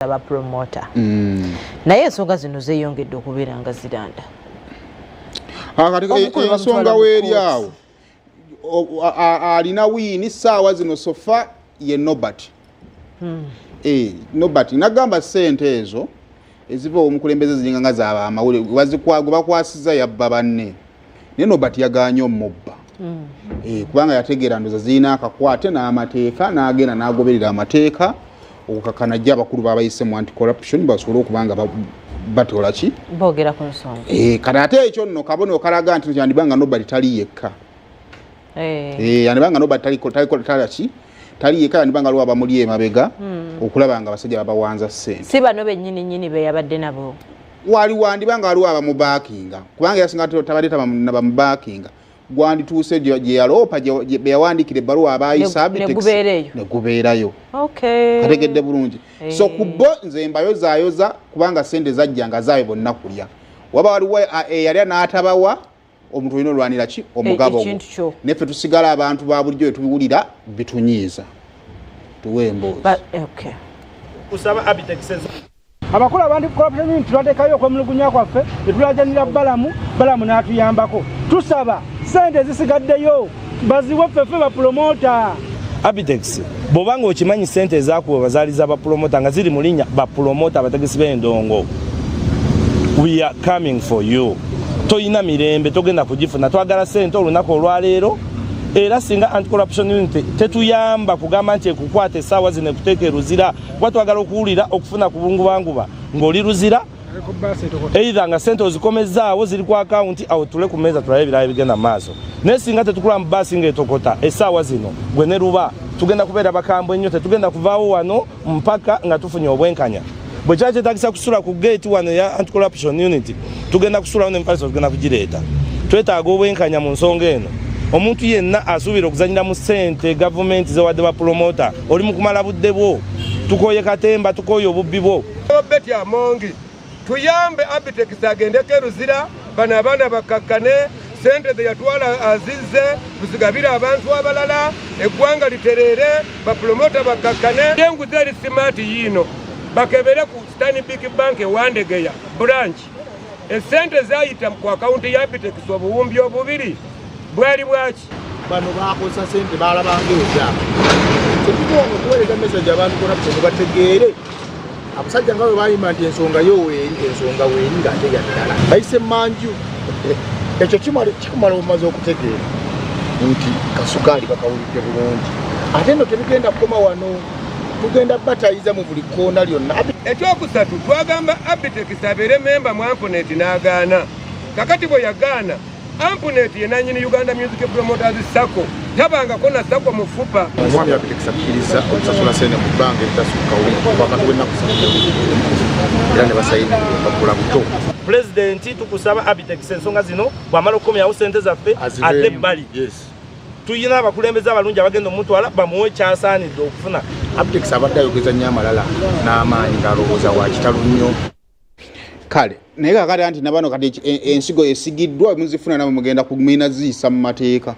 za ba promoter mm. naye ensonga zino zeyongedde okubeera nga ziranda ah, eh, ensonga weeri awo alina wiini saawa zino sofa ye nobert hmm. eh, nobert nagamba sente ezo eziva omukulembeze ziringa nga zaba amawulire gwe bakwasiza yabba banne naye nobert yaganye omubba mm. eh, kubanga yategeera ndoza zirina akakwate n'amateeka n'agenda n'agoberera amateeka okukakana jjo abakulu babayise mu anti corruption basobole okuba nga batola ki bogera ku nsonga eh, kati ate ekyo nno kabona okalaga nti kyandiba nga nobert tali yekka eh. yandiba nga nobert talikola ki tali yekka yandiba nga lwaba muli emabega hmm. okulaba nga abasajja babawanza ssente si bano bennyini nyini beyabadde nabo wali wandiba nga waliwo abamubakinga kubanga yasinga tabadde tabamubakinga gwandituuse gyeyaloopa beyawandikira ebbaluwa abayisanegubeerayo kategedde bulungi eh. so ku bo nze mbayozayoza kubanga sente zajja nga zaayo bonna kulya waba waliwo eyalya eh, n'atabawa omuntu olina olwanira ki omugabo eh, neffe tusigala abantu ba bulijjo wetubiwulira bitunyiiza tuwe emboozi abakulu abandi corruption tulatekayo okwemulugunya kwaffe netulajanira balamu balamu n'atuyambako tusaba sente ezisigaddeyo baziwe ffefe bapulomota abitex bwoba nga okimanyi sente ezakuba bazaali za bapulomota nga ziri mu linnya bapulomota abategesi b'endongo we are coming for you tolina mirembe togenda kugifuna twagala sente olunaku olwaleero era singa anti corruption unity tetuyamba kugamba nti ekukwata esaawa zino ekuteeka eruzira kuba twagala okuwulira okufuna ku bungubanguba ng'oli luzira eitha nga sente ozikomezzaawo ziri ku akawunti awo tule ku meeza tulabe ebirala ebigenda mu maaso naye singa tetukula mu baasi ng'etokota essaawa zino gwe ne luba tugenda kubeera bakambwe nnyo tetugenda kuvaawo wano mpaka nga tufunye obwenkanya bwe kiba kyetagisa kusula ku geeti wano eya anticorruption unity tugenda kusulawo nempalisa tugenda kugireeta twetaaga obwenkanya mu nsonga eno omuntu yenna asuubira okuzanyira mu sente gavumenti zewadde bapulomota oli mukumala budde bwo tukoye katemba tukoye obubbi bwo obeti amongi tuyambe abitex agendeko eruzira bano abaana bakkakkane sente zeyatwala azizze tuzigabire abantu abalala eggwanga litereere bapulomota bakkakkane enguzi eri simaati yiino bakebere ku stanbic bank ewandegeya branch esente zayita ku akawunti ya bitekisi obuwumbi obubiri bwali bwaki bano bakozesa sente balabanga ebyama kyekitwonga okuweereza mesaje abantu corruption bategeere abasajja nga bwe bayima nti ensonga yo weeri ensonga weeri ngaate yaddala bayise manju ekyo kikumala obumaze okutegeera nti kasukaali bakawulidde bulungi ate no tebigenda kukoma wano tugenda batayiza mu buli kkoona lyonna ekyokusatu twagamba abitex abeere memba mu ampunet n'agaana kakati bwe yagaana ampunet ye nanyini uganda music promoters sacco tabangako na sacco mu fupa omwami abitex akkiriza okusasula sente mu bbanga eritasukka wakati w'ennaku era ne basayina bakula buto pulezidenti tukusaba abitex ensonga zino bw'amala okukomyawo sente zaffe ate ebbali tulina abakulembeze abalungi abagenda omutwala bamuwe kyasaanidde okufuna abdex abadde ayogeza nnyo amalala n'amaanyi ng'alowooza wa kitalo nnyo kale naye kakati anti nabano kati e, e, ensigo esigiddwa muzifuna nabo mugenda kumina ziyisa mu mateeka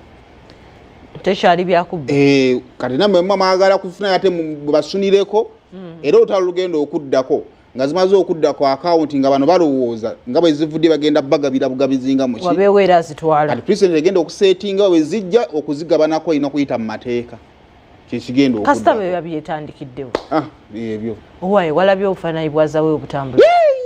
tekyali byakubba eh, kati namwe mwagala kufuna ate basunireko hmm. era olutalo lugenda okuddako nga zimaze okudda ku akawunti nga bano balowooza nga bwe zivudde bagenda bagabira bugabizinga mukiwabeewo era azitwala kati president egenda okuseetinga we zijja okuzigabanako olina okuyita mu mateeka kyekigenda kasita bwe babyetandikiddewo ah, ebyo owaye walabye obufaananyi bwazawe obutambula